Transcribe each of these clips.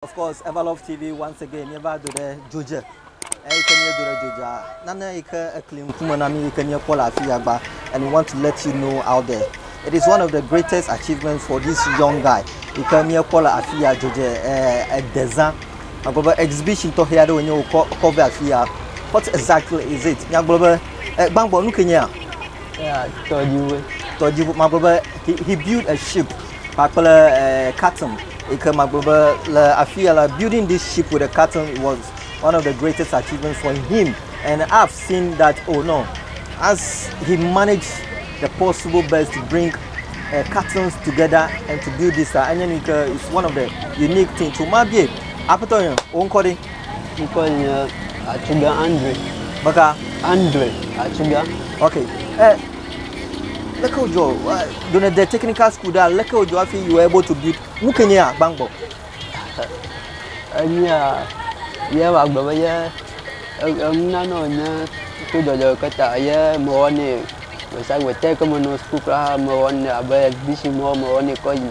Of course, Everlove TV once again míeva do ɖe dzo dze. Eyi ke míedo ɖe dzo dzea, nane yi ke ekli ŋkume na mí yi ke míekpɔ le afi ya gba and we want to let you know out there. It is one of the greatest achievements for this young guy yi ke míekpɔ le afi ya dzo dze eh, edezã. Agblɔ be exhibition tɔxɛ aɖe wònye wòkɔ kɔ ve afi ya. What exactly is it? Míagblɔ be eh, gbãgbɔ nu ke nyea? Yeah, tɔdziʋue. Tɔdziʋu, magblɔ be he, he built a ship. kpakple eh, Khartoum yi ke magblɔ be le afi ya la building this ship with a Khartoum was one of the greatest achievements for him and I've seen that oh no as he managed the possible best to bring uh, cartons together and to build this uh, enye nu yi ke is one of the unique thing to ma bie aƒetɔ yɔ wo ŋkɔ ɖe Ŋkɔ nye Atsuga Andre. beka Andre Atsuga. ok eh, Leke wòdzɔ do ne de technical school ɖe leke wòdzɔ hafi you were able to build nu ke nye agbagbɔ. Enyia ye wɔ agbe be ye emuna nɔ nye to dɔdɔ ke ta ye mewɔ ne gbesagbe te ke menɔ school kura mewɔ ne abe exhibition mɔ mewɔ ne kɔ yi.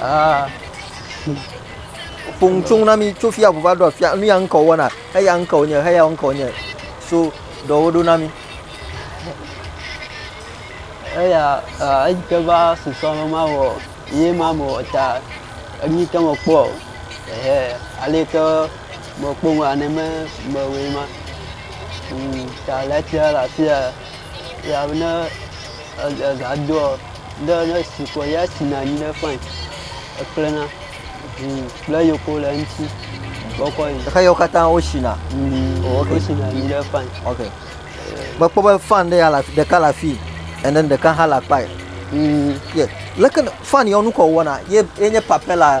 Ah, ƒoŋu tso na mi tso fia ʋu va ɖo afia nu ya ŋkɔ wɔna eya ŋkɔ nye eya ŋkɔ nye so dɔwo ɖo na mi. eya ah, eyi ke va susɔ me ma wɔ ye ma me wɔ ta enu yi ke me kpɔ o ehe ale yi ke me kpɔ ŋu ane me me wɔe ma Mm, ta le etia le afia ya ne ega doɔ ŋɖe ɖe esi kɔ ya sina anyi ɖe fain eklẽna ʋuu kple yoko le eŋuti wokɔ yi. Ɖeka yawo katã wosina. Mm, Oh, ok. Wosina anyi ɖe fain. Ok. Mekpɔ be fan ɖe ya le afi- ɖeka le afii and then ɖeka hã le akpa. Mm, Ye leke ne- fan yawo nukɔ wɔna ye ye nye papɛla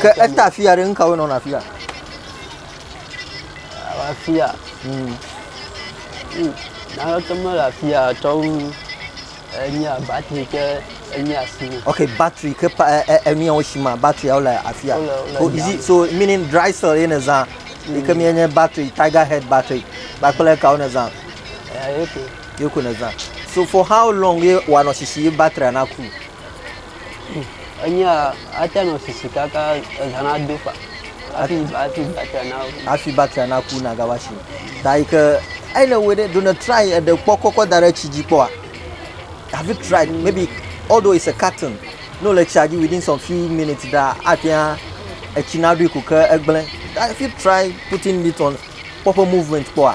Ke eta afia ɖe nukawo nɔna afia? Afia. Hmm. Hmm. Naneke mele afia tɔwu enye batri ke enye asi. Okay, batri ke pa enuyawo si ma batriawo le afia. So is it so meaning dry cell ye ne zã? Ike mi enye batri, tiger head batri. Bakple kawo ne zã? Eh, okay. ye ko nèzã. So for how long ye wòanɔ sisi ye battery naku? Enyia, ate nɔ sisi kaka ezã nado fa hafi hafi battery naku. Hafi battery naku nagava si. Ta yi ke eyi ne wɔe ɖe ɖo ne try eɖe kpɔ kɔkɔ da ɖe tsi dzi kpɔa? Have you tried maybe although it's a carton ne wòle tsia dzi within some few minutes ɖaa ate ŋu etsi naɖoe ko ke egblẽ. Have you tried putting it on kpɔ eƒe movement kpɔa?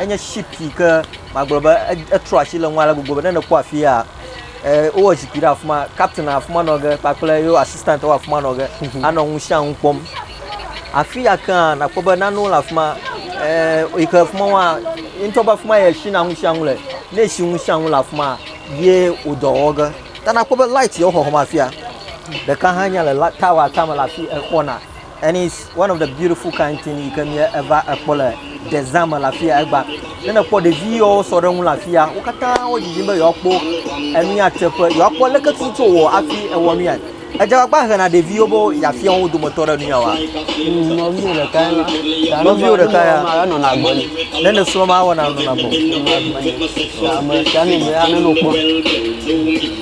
enye ship yi ke magblɔ be etrɔ asi le ŋu ale gbogbo be ne nèkpɔ afia wowɔ zikpui ɖe afi ma captain le afi ma nɔ ge kpakple yewo assistant wo afi ma nɔ ge mhm. anɔ ŋu sia ŋu kpɔm afi ya kea nakpɔ be nanewo le afi ma yi ke afi ma wa ŋutɔ be afi ma yɛ si na ŋu sia ŋu le ne si ŋu sia ŋu le afi ma ye wò dɔ wɔ ge ta nakpɔ be light yewo xɔxɔ ma afia ɖeka hã nya le tower tame le afi exɔna And it's one of the beautiful kind thing yi ke mía eva ekpɔ le desert me le afi ya egba. Ne nekpɔ ɖevi yewo sɔ ɖe ŋu le afi ya, wo katã wo dzidzim be yewoakpɔ enu ya teƒe, yewoakpɔ leke tutu wowɔ hafi ewɔ nu ya. Edze agbagba hena ɖeviwo be yeafia wo dometɔ ɖe nu ya wɔa. Nɔviwò ɖeka ya la. Ta Nɔviwò ne ɖeka ya. nɔviwò ma, enɔna agbe nɛ. Ne nesrɔ̃ ma awɔ na nɔna gbɔ. Enɔna agbe nɛ. Ta ame sia ame ya nenɔ kpɔ.